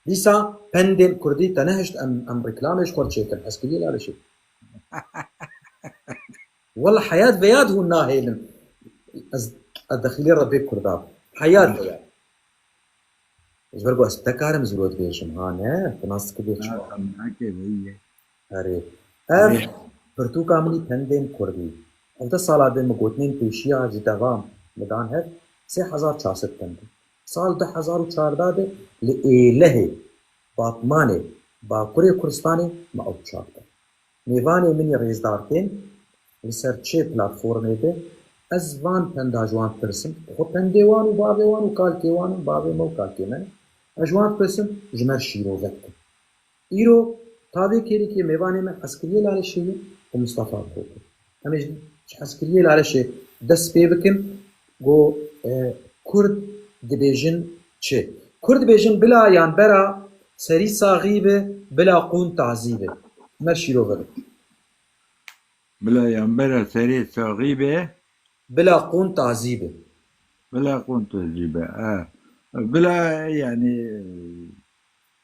Dîsa pendên kurdî te nehişt em em reklamê ji xwe çêkin ez kirî lale şê. Walla heyat veyad hûn nahêlin ez ez dexîlê re bê kurda bi. Heyat veyad. Ji ber ku ez tekarim zirot bêjim ha ne tu nas dikibê çi. Heke veyî ye. Erê. Ev pirtûka min î pendên kurdî. Hevdeh sala din min gotinên pêşîya ji devam min dan hev sê hezar çar sed pend in. Sal du hezar û çardeh de li Êlehê, Batmanê, Bakurê Kurdistanê me ew çap kir. Mêvanê min ê rêzdar tên li ser çê platformê be, ez van penda ji wan dipirsim, xwe pendê wan û bavê wan û kalkê wan in, bavê me û kalkê me ne, ez ji wan dipirsim ji me şîrove dikin. Îro tavê kêrîkê mêvanê me Eskiriyê Laleşê ye û Mistefa bi xwe kir em ê ji Eskiriyê Laleşê dest pê bikin ku Kurd dibêjin çi? Kurd dibêjin bila yan bera serî saxî bi, bila qûn tazî bi. Mer şîrove bi. Bila yan bera serê saxî bi. Bila qûn tazî bi. Bila qûn tazî bi. Bila yanî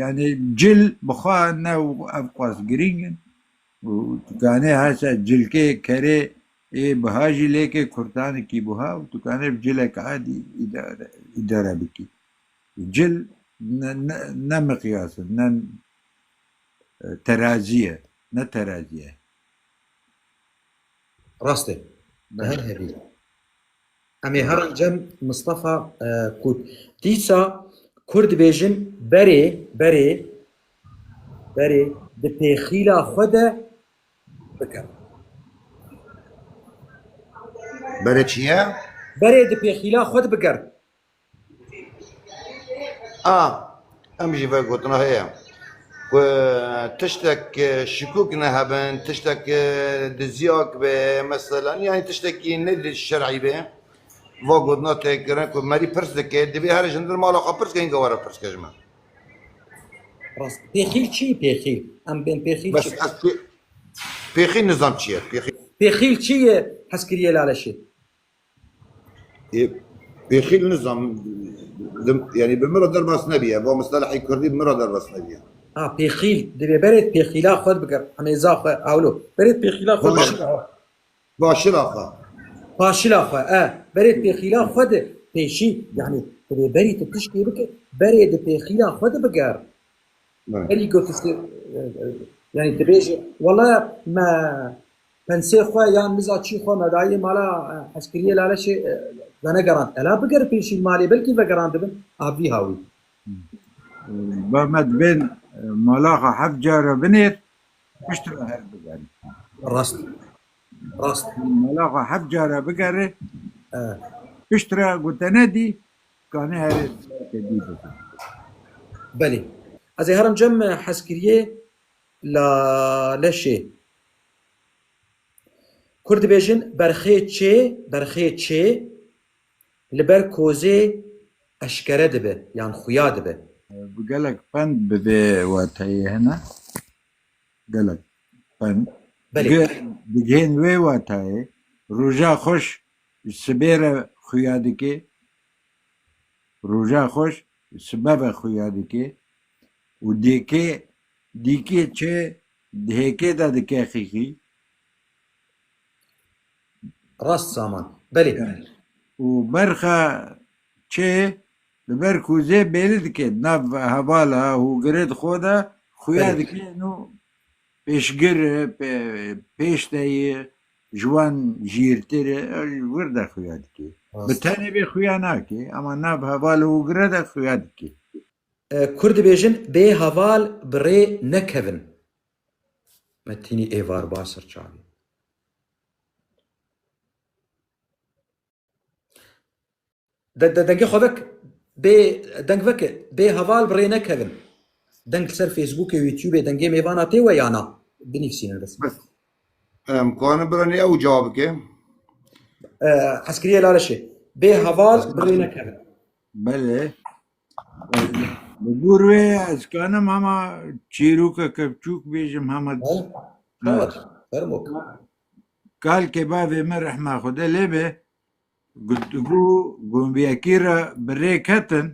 Yanî cil bi xwe ne û ev qas girîng in û tu kanê hesa cilkê kerê ê biha jî lêkê kurtanikî biha û tu kanê bi cilek adî îdare îdare bikî. Cil ne ne ne miqyas in ne terazî ye ne terazî ye. Rast e. Di her hebî. Em ê herin cem Mistefa Kût. Dîsa Kur dibêjin berê, berê, berê di pêxîla xwe de bikin. Berê çi ye? Berê di pêxîla xwe de bikin. A Em jî vê gotina heye ku tiştek şikûk nehebin, tiştek diziyek be mesela yanî tiştekî ne li şerî be va gotina tê kirin ku merî pirs dike divê herî ji ndir mala xwe pirs ke hinka were pirs ke ji min. Rast pêxîl çi ye pêxîl? Em bên pêxîl Bes çi? ez pê- pêxîl nizam çi ye pêxîl. Pêxîl çi ye? Hez kiriye laleşê. Ê pêxîl nizam yani bi min re derbas nebîye. Va mistelehê kurdî bi min re derbas nebîye. Ha pêxîl divê berê pêxîla xwe bigir hemêza xwe ewlo. Berê pêxîla xwe Baş. bigir. Paşila xwe. Paşila xwe e berê pêxîla xwe di pêşî yani divê berî tu tiştê bike berê di pêxîla xwe di bigir. Berî ku tu yani dibêje wele me Pensê xwe yan miza çî xwe medayê mala hezkiriyê Laleşê venegerand. Tela biger pêşîn malê belkî vegerandibin a vî hawî. Ba me dibên malaxa heft car re binêr pişt re her bigerin. Rast. Rast. Malaxa heft car re bigerê pişt re gote nedî kanê herê te dî bikin. Belê. Ez ê herim cem hezkiriyê Laleşê. Kurd dibêjin berxê çê, berxê çê li ber kozê eşkere dibe yan xuya dibe. Bi gelek pend bi vê wateyê hene, gelek pend. Belê. Digihên wê wateyê, roja xweş ji sibê re xuya dikê, roja xweş ji sibe ve xuya dikê û dêkê Dîkê çê di hêkê de dike xîxî. Rast saman. Belê. Û berxa çê li ber kûzê bêli dike di nav hevala û girê di xwe de xuya Belê. dike nû pêşgir e, pê- pêş de ye, ji wan jîrtir e, ew ji wir de xuya dike. Bi Rast. tenê vê xuya nake, ema nav hevala û girê de xuya dike. Kurd dibêjin bê heval bi rê nekevin. Me tînî êvar ba ser çavê. De, de dengê xwe vek bê deng veke bê heval bi rê nekevin. Deng li ser Facebookê û YouTubeê dengê mêvana tê we ya na? Binivîsînin bes. Bes. Em kanin biranê ew cevab bike. Hezkiriyê laleşê. Bê heval bi rê nekevin. Belê. Ez li gor wê ez kanim hema çîrokeke biçûk bêjim hema He? Ha. Hewa çi? Fermo. Kalkê bavê min rehma Xwedê lê be guftgû gombiyekî re bi rê ketin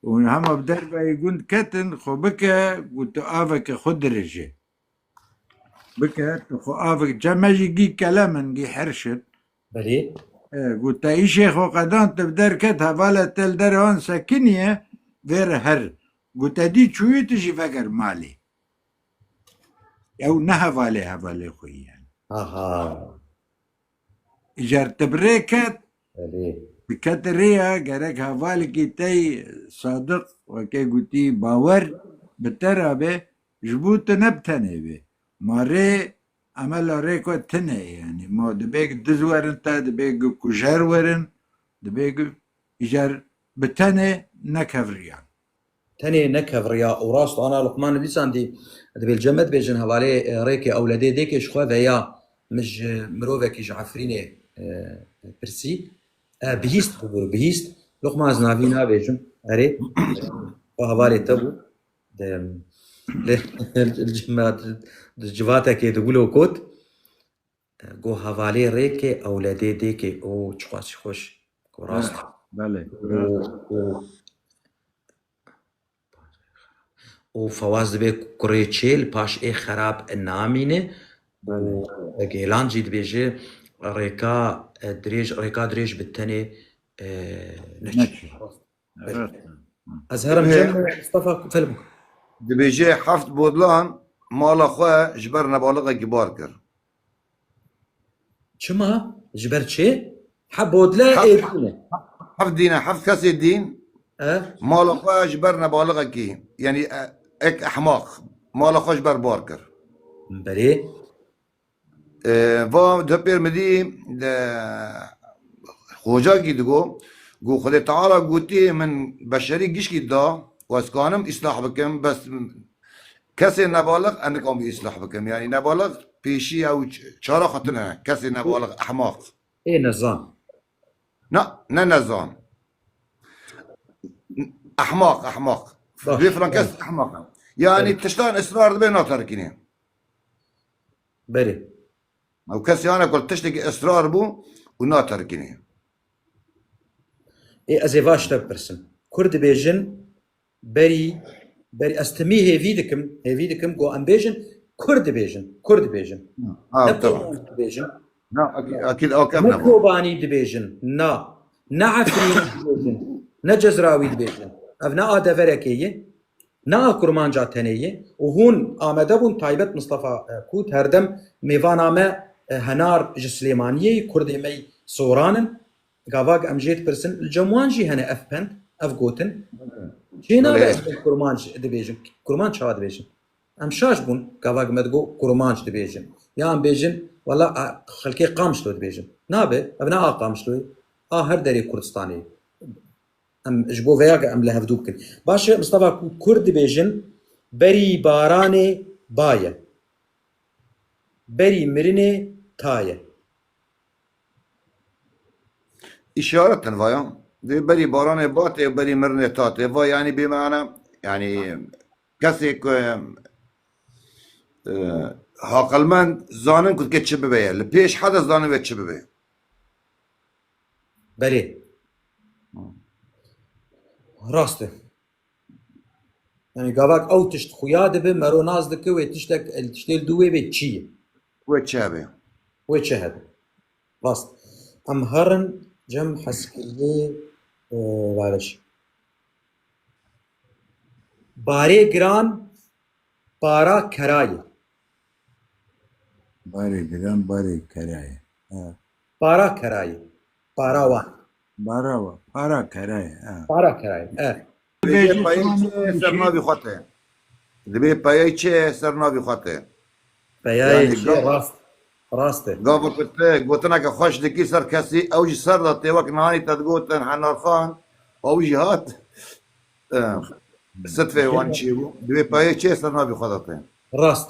û hema bi derveyê gund ketin xwe bike û tu aveke xwe dirije. Bike tu xwe avek cem me jî gî kelemin gî herşin Berê. Ku teyişê xo qedan te bi der ket hevale te li derê an sekiniye vê re her ku te dî çûyî tu jî veger malê. Ew ne hevalê hevalê xo yî yani. Aha. Îcar te bi rê ket Berê. bi kete rê ya gerek hevalekî tey sadiq weke gotî bawer bi te re be ji bo tu ne bi tenê be. Ma rê Emela Rêko tune ye yanî ma dibe ku diz werin te, dibe ku kujer werin, dibe ku îcar bi tenê nekevriyan. Tenê nekevriya û rast ana Luqmanê dîsan dî dibê li cem me dibêjin hevalê Rêkê ewledê dêkê ji xwe veya min ji mirovekî ji Efrînê pirsî e bihîst bû bihîst Luqman ez navî nabêjim erê xwe hevalê te bû Di civatekê di gulo kot Go hevalê rêkê ewledê dêkê o çiqua çi xweş Go rast e Belê O fewaz dibê kurê çêl paş ê xerab namîne Belê Gêlan jî dibêje rêka dirêj rêka dirêj bi tenê neçû. Ez herem cem Mustafa film. Dibêje heft bodlan mala xwe ji ber nebaliqe gibar kir. Çima? Ji ber çê? He bodle ê dîne. Heft dîne, heft kesê dîn mala xwe ji ber nebaliqekî yanî ek ehmaq mala xwe ji ber bar kir. Berê Va Depêrmidî li Xocagî digo ku Xwedê Teala gotî min beşerî gişkî da û ez kanim îslah bikim bes kesê nebalix ez nikamî îslah bikim yanî nebalix pêşî ew çara xwe tune kesê nebalix ehmaq. Ê nezan. Na ne nezan. Ehmaq ehmaq. Vê filan kes ehmaq e. Yanî tiştan israr dibe naterikînê. Berê. Ew kesê hane ku tiştekî israr bû û naterkinî. Ê ez ê va ji te bipirsim. Kurd dibêjin berî berî ez timî hêvî dikim hêvî dikim ku em bêjin kurd dibêjin kurd dibêjin. Ha Ne tamam. Kobanî dibêjin. Na akî- akîl ok em Ne ne bû. Kobanî dibêjin. Na. Ne Efrînî dibêjin. Ne Cezrawî dibêjin. Ev ne a deverekê ye. Niha kurmanca tenê ye û hûn amade bûn taybet Mistefa Kût herdem mêvana me henar ji Silêmaniyê yî kurdê me yî soran in gavak em jê dipirsin li cem wan jî hene ev pend ev gotin cê nabe ez bê kurmanc dibêjim kurmanc çawa dibêjin em şaş bûn gavak me digot kurmanc dibêjin ya em bêjin wela xelkê Qamişlo dibêjin nabe ev ne a Qamişlo yî a her derê Kurdistanê yî. Em ji bo vêya em li hevdû bikin. Baş e Mistefa ku kurd dibêjin berî baranê ba ye. Berî mirinê ta ye. İşaret din vaya. Dê berî baranê ba tê berî mirinê ta tê. Va yanî bê mana yanî kesê ku haqilmend zanin ku dike çi bibe ye. Li pêş hede zanin vê çi bibe. Belê. Rast e. Yani gavak ew tişt xuya dibe mero naz dike wê tiştek el tiştê li dû wê bê çi ye? Wê çi hebe? Wê çi hebe? Rast. Em herin cem heskirî e, bariş. Barê giran para kerayê. Barê giran barê kerayê. Ha. Para kerayê. Para wan. Bara wa. Para kerayê. E. Para kerayê. E. Dibê payeyê çi ye ser navê xwe te? Dibê payeyê çi ye ser navê xwe te? Peyayê çi ye rast rast e. Gava ku ti gotineke xweş dikî ser kesî ew ji ser de tê wek nanî te digotin Henarxan ew jî hat sitvê wan çêbû. Dibê payeyê çi ye ser navê xwe de te? Rast.